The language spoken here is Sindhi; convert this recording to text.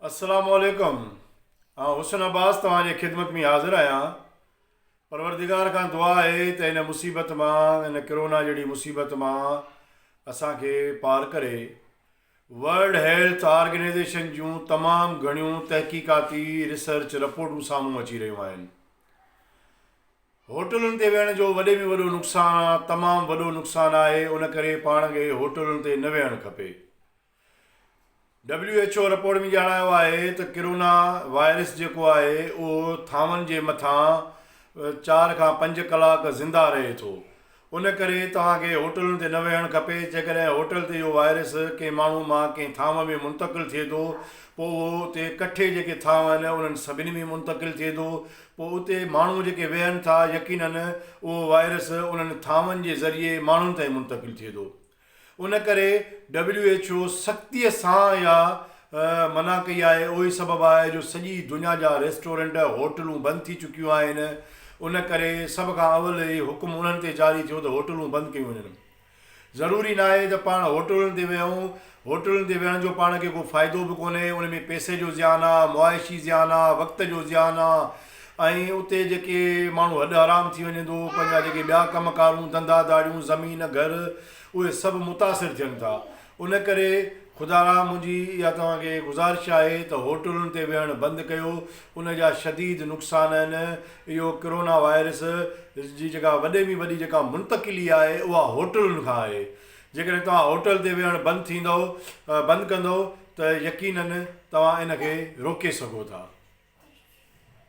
السلام عليڪم آئون حسن عباس توهان جي خدمت مين حاضر آهيان پروردگار کان دعا آهي ته هن مصيبت مان هن ڪرونا جهڙي مصيبت مان اسان کي پار ڪري ورلڊ هيلٿ آرگنيزيشن جون تمام گهڻيون تحقيقاتي ريسرچ رپورٽون سامهون اچي رهيون آهن هوٽلن تي ويهڻ جو وڏي ۾ وڏو نقصان تمام وڏو نقصان آهي ان ڪري پاڻ کي هوٽلن تي نه ويهڻ کپي ڊبليو ايڇ او رپورٽ ۾ ڄاڻايو آهي ته ڪرونا وائرس جيڪو آهي اهو ٿانون جي مٿان چار کان پنج ڪلاڪ زنده رهي ٿو ان ڪري توهان کي هوٽلن تي نه ويهڻ کپي جيڪڏهن هوٽل تي اهو وائرس ڪنهن ماڻهو مان ڪنهن ٿانو ۾ منتقل ٿئي ٿو پوء اهو اتي ڪٺي جيڪي ٿانو آهن انهن سڀني ۾ منتقل ٿئي ٿو پوء اتي ماڻهو جيڪي ويهن ٿا يقينن اهو وائرس انهن ٿانون جي ذريعي ماڻهن تائين منتقل ٿئي ٿو ان ڪري ڊبليو ايڇ او سختيء سان اها منع ڪئي آهي، اهوئي سبب آهي جو سڄي دنيا جا ريسٽورنٽ، هوٽلون بند ٿي چڪيون آهن، ان ڪري سڀ کان اول هي حڪم انهن تي جاري ٿيو ته هوٽلون بند ڪيون وڃن. ضروري ناهي ته پاڻ هوٽلن تي ويهون، هوٽلن تي ويهڻ جو پاڻ کي ڪو فائدو به ڪونهي، ان ۾ پئسي جو زيان آ، معاشي زيان آ، وقت جو زيان آ، ۽ اتي جيڪي ماڻهو هڏ حرام ٿي وڃن ٿو پنهنجا جيڪي ٻيا ڪم ڪارون ڌنڌا ڌاڙيون زمين گهر اهي سڀ متاثر ٿين ٿا ان ڪري خدا را منهنجي اها توهان کي گذارش آهي ته هوٽلن تي ويهڻ بند ڪيو ان جا شديد نقصان آهن اهو ڪرونا وائرس جي جيڪا وڏي ۾ وڏي جيڪا منتقلي آهي اها هوٽلن کان آهي جيڪڏهن توهان هوٽل تي ويهڻ بند ٿيندو بند ڪندو ته يقينن توهان ان کي روڪي سگهو ٿا.